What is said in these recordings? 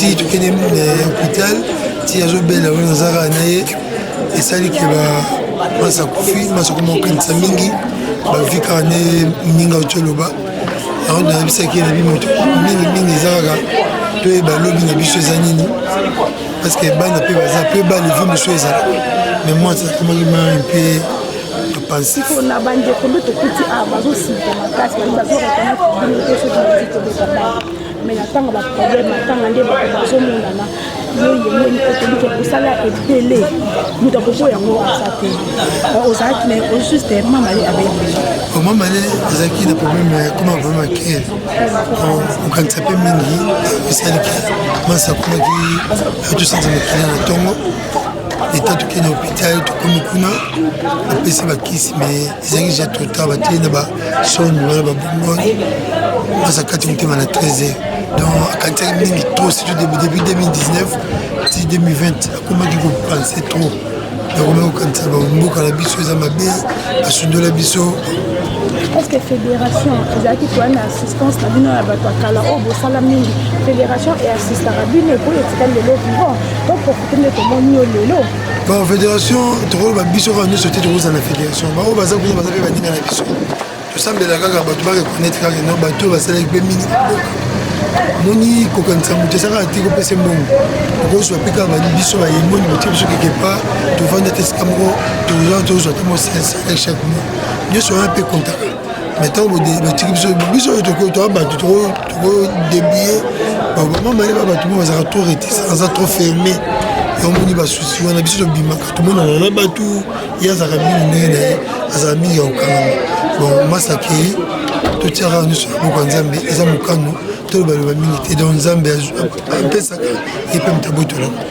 ti tokende eh, hôpital ti azobela wana naza kaka na ye esali ke masa kufi masa koma kokanisa mingi bavi kaka na ye moninga oti oloba yango nayebisaki ye na bi moto mingi mingi eza kaka toyeba lobi na biso eza nini parce que bana mpe baza mpe bana evi mosusu ezala mais moi akomaki mari mpe pona bandeko nde tokuti awa ah, bazosika makasi bazorekonaitre bino te soki bazali kobeta bana me na ntango baproblème atanga nde bato bazomonana yoyemoni okolike kosala ebele moto akoko yango aza te ozalaki na juste mamale abeli mamale azalaki na problème ya koma problème ya kele okanisa mpe mingi esali ke masi akomaki atosanza makila na ntongo leta tokei na hôpital tokomi kuna bapesi bakisi me ezalaki deja trop tard batei na basoni wana babongoni basa kati motema na 13 heures donc akanisaki mingi trop surtout depuis 2019 ti 2020 akomaki kopense trop nakomaki kokanisa bamboka na biso eza mabe basundola biso est-ce que fédération ezalaki koya na assistance na bino ya bato ya kala oyo bosala mingi fédération eassistaka bino epo etikali lelo vivant ba federation tokoloba biso kaka nyonso te tokozala na federation baoyo baza kuna baza mpe baninga na biso tosambela kaka bato bareconnaître kaka no bato oyo basalaki mpe mingi moni kokanisa moto eza kaka te kopesa mbongo okozwa mpe kaka biso bayemboni botie biso keke pa tovanda te esika moko tozwa te mosalaire chaque mois nyonso wana mpe kontaka mai ntango botiki biso biso oyo tokotoa bato tokodebie babama mayeba bato moko bazalaka trop retisa aza trop ferme yamoni basusi wana biso tobimaka tomonana na bato ye azalaka mingi ndenge na ye azala mingi ya kokangama bon masa akei totiaka nyonso ya boka nzambe eza mokano tolobaloba mingi te don nzambe apesaka ye mpe moto abotolango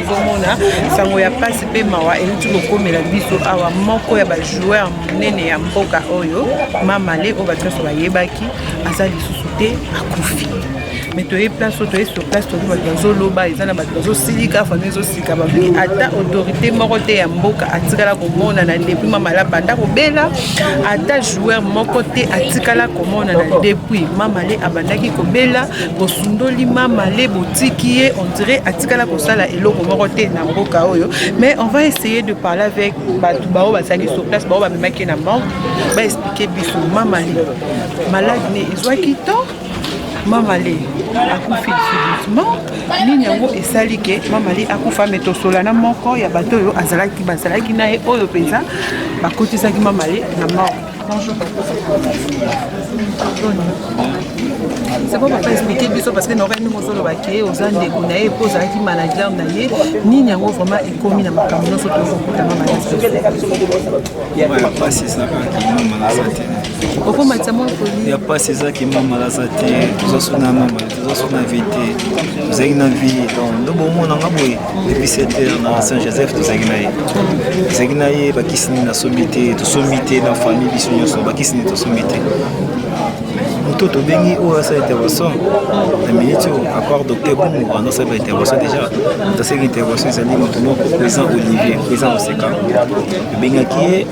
ozomona sango ya pasi mpe mawa euti kokomela biso awa moko ya bajoueur monene ya mboka oyo mamale oyo bato nyonso bayebaki aza lisusu te akufi mais toye place oyo toye sur place toyebi bato bazoloba eza na bato bazosilika fami ezosilika babi ata autorité moko te ya mboka atikala komonana depuis mamala banda kobela ata joueur moko te atikala komonana depuis mamale abandaki kobela bosundoli mamale botiki ye on dirait tikala kosala eloko moko te na mboka oyo mais on va essayer de parler avec bato bao bazali sur place bao bamemaki na morgue baexplike biso mamali malade ne ezwaki temps mamale akufi subitement nini yango esali ke mamale akufa me tosolana moko ya bato oyo azalaki bazalaki na ye oyo mpenza bakotisaki mamale na morgue Bonjour papa. C'est bon papa expliquer biso parce que na okai ndenge ozoloba ke oza ndeko na ye mpo ozalaki manager na ye nini yango vraiment ekomi na makambo nyonso tokokutama mayapasi ezaka kima malasa te okomatisa mwa poli ya pasi eza kima malasa te tozosuna mama tozosuna vie te tozalaki na vie donc ndobomona nga boye depuis 7 heures na saint joseph tozalaki na ye tozalaki na ye bakisi nini nasombi te tosombi te na famille biso nyonso bakisi nini tosombi te moto tobengi oyo asala intervention na minute oyo apart docteur bongo wana asala ba intervention déjà toseki intervention ezali moto moko président olivier président oseka tobengaki ye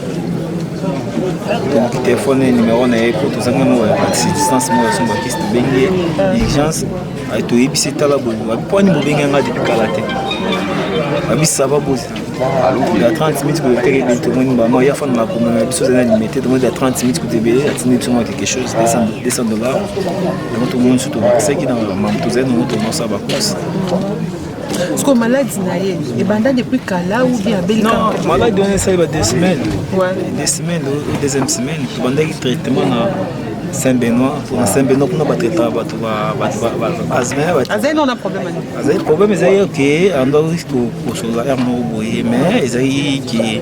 tobuki telefone numero na ye mpo tozangi moko ya distance moko ya sombakisi tobengi ye urgence Ayi toyebisi tala boye wapi mpo ani bobengi yanga depuis kala te wapi sava bozi ya 30 minutes koyoteka ebele tomoni mama ya fana makoma na biso ezali na limete tomoni ya 30 minutes kutu ebele atindi biso mwa quelque chose 200 dollars yango tomoni so tobakisaki na mama tozali nango tomosa bakosi siko maladi na ye ebanda depuis kala ou bien abelika maladi wana esali ba deux semaines deux semaines deuxième semaine tobandaki traitement na Saint Benoît kuna Saint Benoît kuna batraitaka bato azali nona problème azali problème ezali ke andaki kosola r moko boye mais ezali ke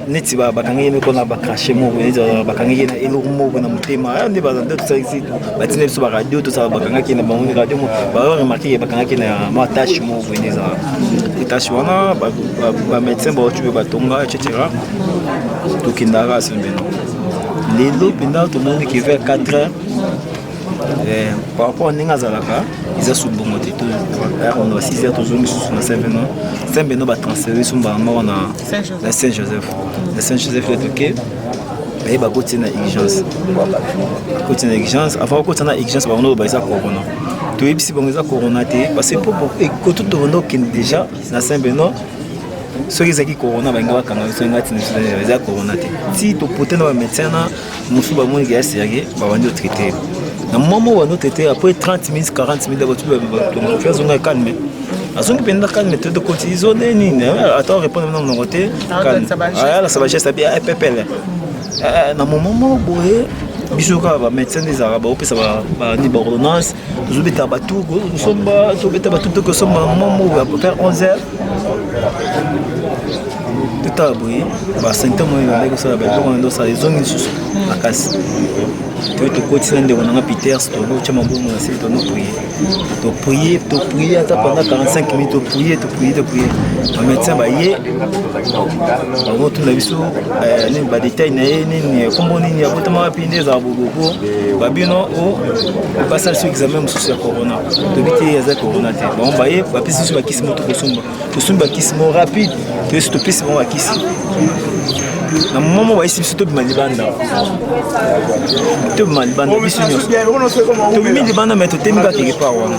neti bakangi ye moko na bacrache moko neti bakangi ye na eloko moko na motema ah, nde bazande tosalisi batina biso baradio tosala bakangaki na bango radio baremarke ye bakangaki na mwa tache moko boye nde ezala tache wana bamédecin baotibe batonga etc tokendaka sembeno lelo mpenza tomoni ke vers 4 heures eh, par rapport à ndenge azalaka eza su bongo te to on va 6 heures tozongi susu na saint beno saint beno batransfere so mbala moko na saint joseph na saint joseph le toke baye bakoti na urgence bakoti na urgence avant bakoti na urgence bango noko baeza corona toyebisi bango eza corona te parce que mpo ekoto tokondo okende déjà na sembe no soki ezalaki corona balinga bakanga biso nga tina biso eza corona te ti topote na bamédecin na mosusu bamoni ke ya serie babandi otraite na mwa moko bandi otraite après 30 minutes 40 minutes bato azonga calme azongi mpenza calme te tokoti zone nini ata orépondre na monoko te calme ayalasa bageste abi epepele na moment moko boye biso kaka bamédecin nde ezalaka baopesa bani baordonnance tozobeta batu kosomba tobeta batu mpe kosomba momo ya vers 11 heures totala boye basymptome oyo ebandaki kosala babiloko na ndosala ezongi lisusu makasi to tokotisi na ndeko nanga peters tokotya mabongo na sili tono prie toprie toprie ata pendant 45 minutes toprie toprie toprie bamédecin baye bango tuna biso badetail na ye nini kombo nini abotama wapi nde ezala bobobo babino oh, basala so examen mosusu ya corona toyebi te aza corona te bango baye bapesi biso bakisi moto kosomba tosombi bakisi mo rapide toyesi topesi bango bakisi na moma mo bayisi biso tobima libanda tobima libanda biso nyonso tobimi libanda mai totemi kaka keke par wana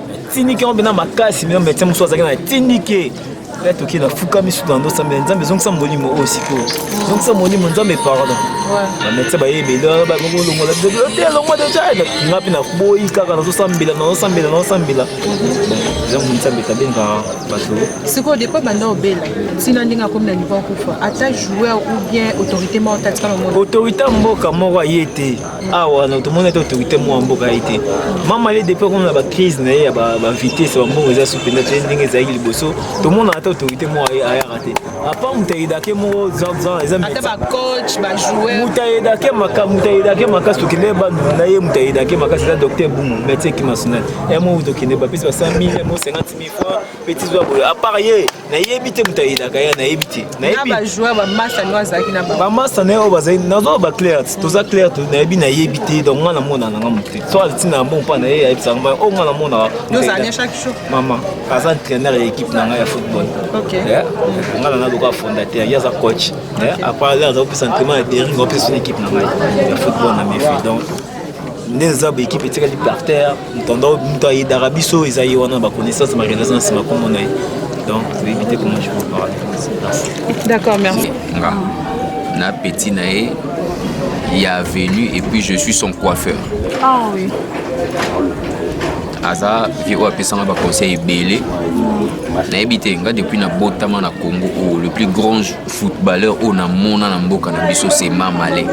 tindiki yango mpena makasi mena medecin mosusu azalaki na tindiki ya toki na fuka misu na ndosa mbe nzambe ezongisa molimo oyo sikoyo ezongisa molimo nzambe pardon bamedecin bayebela bakolongola te elongwa deja nga mpe naboyi kaka nazosambela nazosambela nazosambela yango nzambe tabenga bato sikoyo depa banda obela ntina ndenge akomi na niveau akufa ata joueur ou bien autorité moko tatika na autorité mboka moko aye te awa na tomoni ete autorité moko ya mboka ye te mama ye depuis akomona na bacrise na ye ya bavitesse bambongo eza su mpenza te ndenge ezalaki liboso tomonaka ata autorité moko ayaka te apa moto ayedake moko zanzan eza moto ayedake moto ayedake makasi tokende bandulu na ye moto ayedake makasi eza docteur bumu médecin kimasonal ya moko tokende bapesi ba 100 000 mo 50 000 francs mpe tizwa boye apart ye nayebi te moto ayelaka ya nayebi te bamasta na ye oyo bazali nazoa baclaire toza claire nayebi nayebi te donc ngai namona nanga moto te so ntina ya mbongo mpa na ye ayebisaka mai oyo ngai namonaka mama aza entraîneur ya équipe na ngai ya football ngai nana lokola fondateur ye aza coach apart aza kopesa entraînement ya dering opesa équipe na ngai ya football na mefi donc nde eza baekipe etikali par terre ntando moto ayedaka biso eza ye wana na baconnaissance marealisation na nsima komona ye donc toyebi te comment je peux parler d'accord merci nga na petit na ye ya avenue et puis je suis son coiffeur ah oui aza vie oyo apesanga baconseil ebele nayebi te nga depuis nabotama na congo oyo oh, le plus grand footballeur oyo namona na mboka na biso se mamale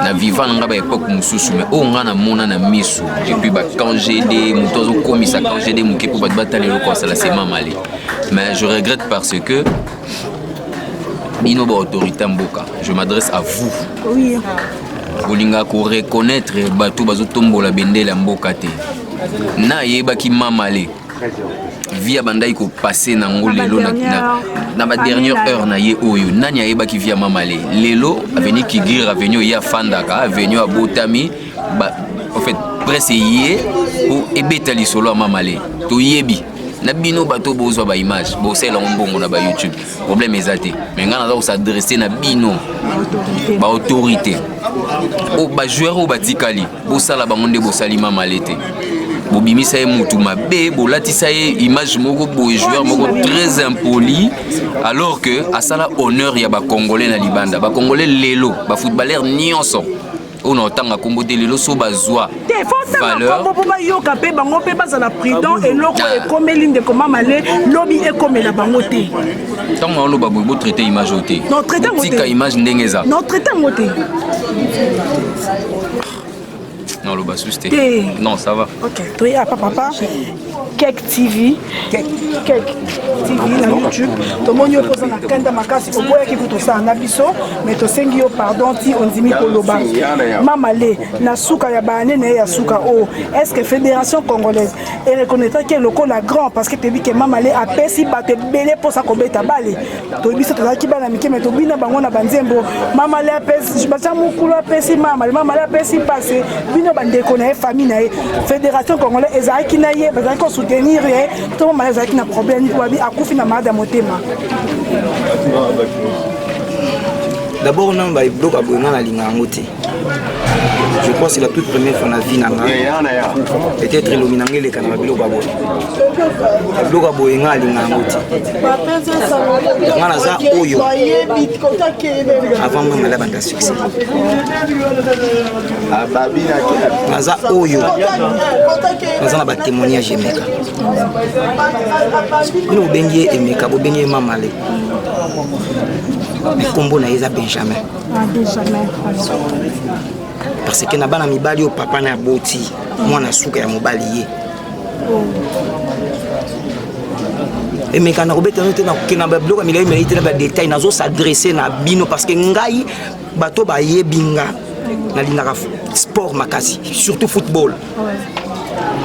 na viva na ngai ba epoke mosusu mai oyo ngai namona na miso epuis bacangd moto azokomisa cangd moke mpo bato batala eloko asala se mamale mais je regrette parce que bino baautorité ya mboka je m'adresse à vous oui. bolinga koreconnaitre bato bazotombola bendele ya mboka te nayebaki mamale via bandaki kopase na yango lelo na badernière heure na ye oyo nani ayebaki via mamale lelo aveni kigir aveni oye afandaka aveni abotami en fait presse eye mpo ebeta lisolo ya mamale toyebi na bino bato bozwa baimage bosalela yango mbongo na bayoutube problème eza te mais ngai naza kosadresse na bino baautorité oyo bajoueur oyo batikali bosala bango nde bosali mamale te bobimisa ye motu mabe bolatisa ye image moko boye joueur moko très impoli alors que asala honneur ya bacongolais na libanda bacongolais lelo bafootballeur nyonso oyo naotanga nkombo te lelo so bazwa valeur po bayoka mpe bango mpe bazala prudent eloko ah. ekomeli ndeko mamale lobi ekomela bango te ntango naoloba boye botraite image oyo te tika image ndenge eza notraite yango te naloba susu te non ça va ok toye apa papa Kek TV, Kek, Kek TV na YouTube tomoni yo mpoza na kanda makasi oboyaki kutosala na biso me tosengi yo pardon ti ondimi koloba mama le na suka ya baane na ye ya suka o oh, est ce que fédération congolaise ereconnaitraki ye lokola grand parce que toyebi ke mama le apesi bato ebele mposa kobeta bale toyebi biso tozalaki bana mike me tobina bango na banzembo mama le apesi baza mokulu apesi mama le mama le apesi mpase bino bandeko na ye famille na ye fédération congolais ezalaki na ye bazalaki kosoutenir ye to mama le azalaki na problème mpo babi akufi na malade ya motema dabord nano babiloko ya boye nga nalinga yango te je crois c'est la toute première fois na vie na nga peut-être elomi na nga eleka na babiloko ya boye babiloko ya boye nga alinga yango te nga naza oyo avant nga mala banda succès naza oyo naza na batémoignage emeka bino bobengi ye emeka bobengi ye mamale nkombo na ye eza benjamin parce que na bana mibali oyo papa na aboti mwana suka ya mobali ye emeka na kobeta no te na kokenda babiloko ya milai milai te na badetail nazo s'adresse na bino parce que ngai bato bayebi nga nalingaka sport makasi surtout football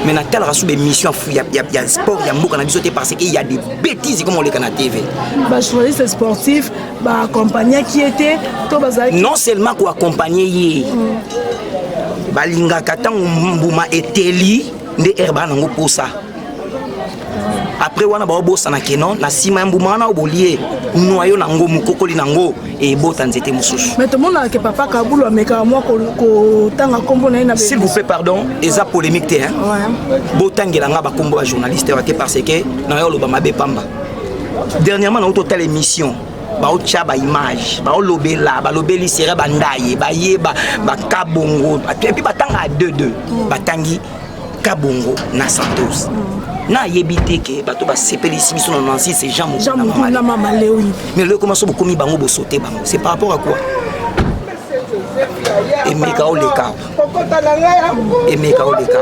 mais natalaka sous bémission ya, ya, ya sport ya mboka na biso te parce que ya des bêtises comme oleka na tv bajournaliste sportif baakompagnaki ye te to bazalaki non seulement koakompagne ye mm. balingaka ntango mbuma eteli nde herbaa nango posa après wana baobosana ke non na nsima ya mbuma wana obolie noyo na yango mokokoli na yango ebota nzete mosusu mais tomonaka ke papa kabulu amekaka mwa kotanga nkombo na ye na s'il vous plaît pardon eza polémique te hein botangela nga bakombo ya journaliste wa te parce que nayo oloba mabe pamba dernièrement nauti otala émission baotya baimage baolobela balobeli sere bandaye bayeba bakabongo epuis batanga 22 batangi kabongo na santos mm. nayebi te ke bato basepelisi biso na nansi se jean mokuna mama lewi mais leko maso bokomi bango bosote bango c'est par rapport à quoi emeka oleka emeka oleka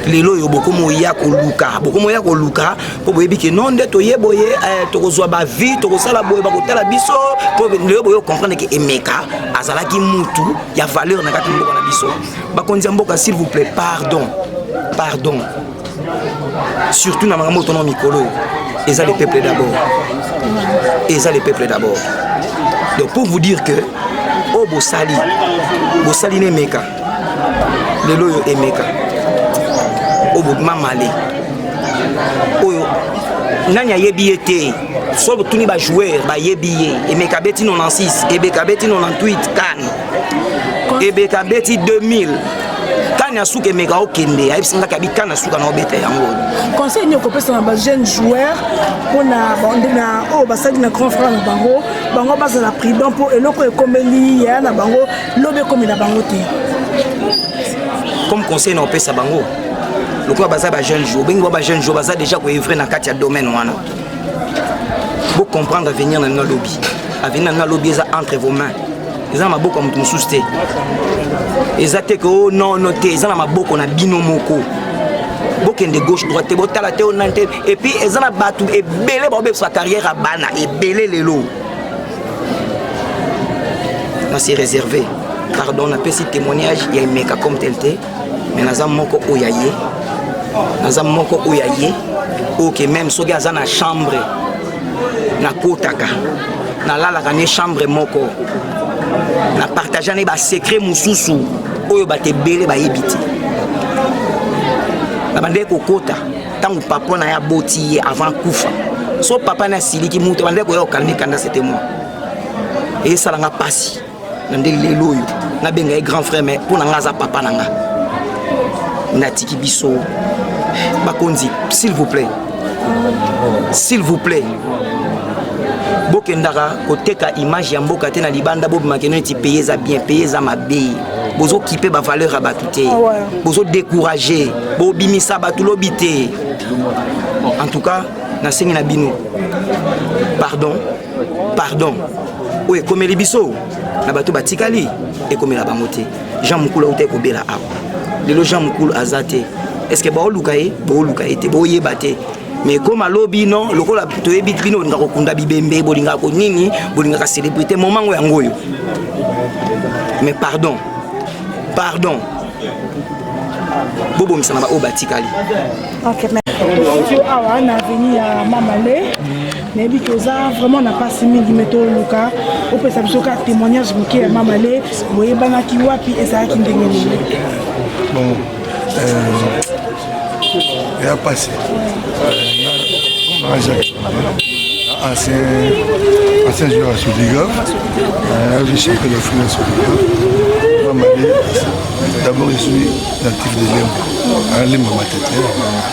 lelo oyo bokomoya koluka bokomoya koluka mpo boyebi ke non nde toye boye eh, tokozwa bavie tokosala boye bakotala biso mpo lelo boye okomprendre ke emeka azalaki mutu ya valeur na kati mboka na biso bakonzi ya mboka s'il vous plaît pardon pardon surtout na makambo otona mikolo oyo eza le peuple d'abord eza le peuple d'abord donc pour vous dire que oyo oh, bosali bosali na emeka lelo oyo emeka oyo oh, bobima male oyo oh, nani ayebi ye te soki otuni bajoueur bayebi ye emeka abeti 96 ebeka abeti 98 kane ebeka abeti 2000 kani ya suka emeka okende ayebisi ngaki abi kani ya suka na obeta yango conseil nini okopesa na bajeune joueur mpona na oyo basali na grand frère na bango bango bazala prudent mpo eloko ekomeli yaya na bango lobi ekomela bango te comme conseil na opesa bango lokola baza bajeune jour bengi ba bajeune jour baza déjà koevre na kati ya domaine wana Vous comprenez l'avenir de notre lobby. L'avenir de notre lobby est entre vos mains. Ils sont dans ma boucle comme tout sous terre. Ils sont que oh non, non, ils sont dans ma boucle, on a bino moko. bokende gauche droite te botala te onani te epuis eza na bato ebele baobebisa carrière ya bana ebele lelo nasi réservé pardon napesi témoignage ya emeka comme tel te mais naza moko oyo ya ye naza moko oyo ya ye oke meme soki aza na chambre nakotaka nalalaka ne chambre moko na partage ne basecret mosusu oyo bato ebele bayebi te nabandaki kokota ntango papa na ye aboti ye avant kufa so papa na asiliki moto abandaki koya kokalmi kanda sete moi esalanga mpasi na nde lelo oyo nabenga ye grand frère mais mpo na ngai aza papa na ngai natiki biso bakonzi s'il vous plaît s'il vous plaît bokendaka koteka image ya mboka te na libanda bobimaka eno neti peye eza bien peye eza mabe bozokipe bavaleur ya bato te ah bozodécourage bobimisa bato lobi te en tout cas nasengi na bino pardon pardon oyo ekomeli biso na bato batikali ekomela bango te jean mokulu auta ekobela awa lelo jean mokulu aza te estce baoluka ye booluka ye te boyeba te mais ekoma lobi no lokola toyebi bino bolingaka kokunda bibembe bolingaka konini bolingaka célébrité momango yango oyo mais pardon pardon bobongisa na baoyo batikali awa na aveni ya mamale nayebi ke oza vraiment na mpasi mingi me toluka opesa biso kaka témoignage moke ya mama le boyebanaki wapi ezalaki ndenge nini bon ya euh, mpasi ancien ancien joueur ya sodigov ayebi champion de france sodigov mamale d'abord je suis natif de lemba alemba matete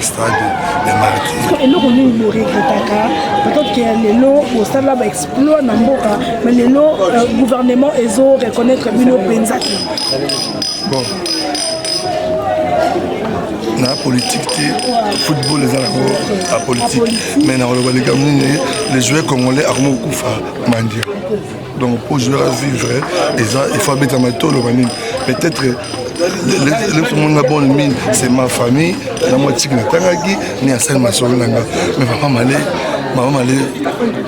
stade ya martyr eloko nini boregretaka peut-être ke lelo bosala baexploit na mboka ma lelo euh, gouvernement ezo reconnaître bino mpenza te bon na politique te football eza nango apolitique mais nakoloba likambo nini le joueur congolais akomi kokufa mandia donc mpo joueur a vivre eza il faut abetama to oloba nini peut-être lesomonga bon mine c'est ma famille na mwa tiki natangaki ni asali masolo na nga mais papa male mama male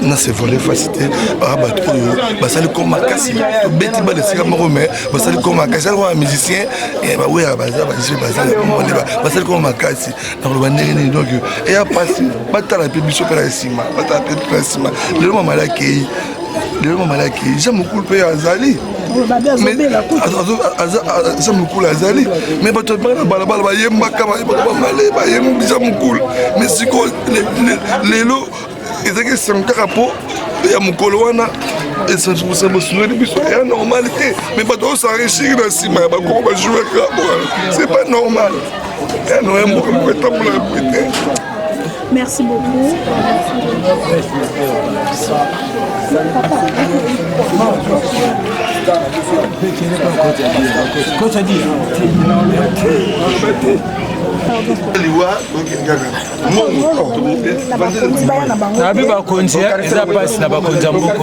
na se vole fasi te baa bato oyo basali ko makasi tobeti bana esika moko mais basali ko makasi alikoa musicien eh, baweya baza baje bazamone basali ko makasi nakoloba ndenge nini donc eya mpasi batala mpe biso mpe na nsima batala mpe mpe na nsima lelo mamale akei lelo mamalaki eza mokulu mpe azali aza mokulu azali me bato yabaka na balabala bayembaka bamale bayembisa mokulu me sikoyo lelo ezalaki esango kaka mpo ya mokolo wana esangosangosuneli biso ya normal te me bato osanrechiri na nsima ya bakoko bajouer kaka wana c'est pas normal ya noye mboka moko etambolaka boye te Merci beaucoup. nabi bakonzi eza mpasi na bakonzi ya mboka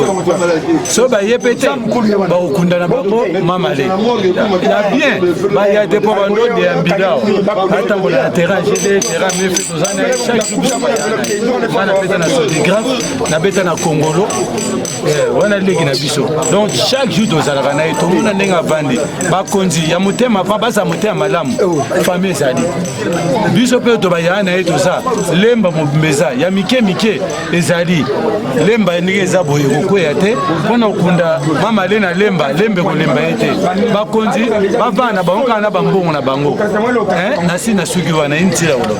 so baye mpe te bakokundana bango mamale na bien baya te mpo bandonde ya mbila atambola na terrain gd terrain mefe nabeta na kongolo eh, wana leki na biso donc chaque jour tozalaka na ye tomona ndenge avandi bakonzi ya motema pa baza motema malamu famille ezali biso mpe tobayaya na ye toza lemba mobimba eza ya mike mike ezali lemba ndenge eza boye kokweya te mpona kokunda mama le na lemba lembe kolemba ye te bakonzi bavanda bango kaka na bambongo na bango eh, nasi na suki wana ye ntila koloba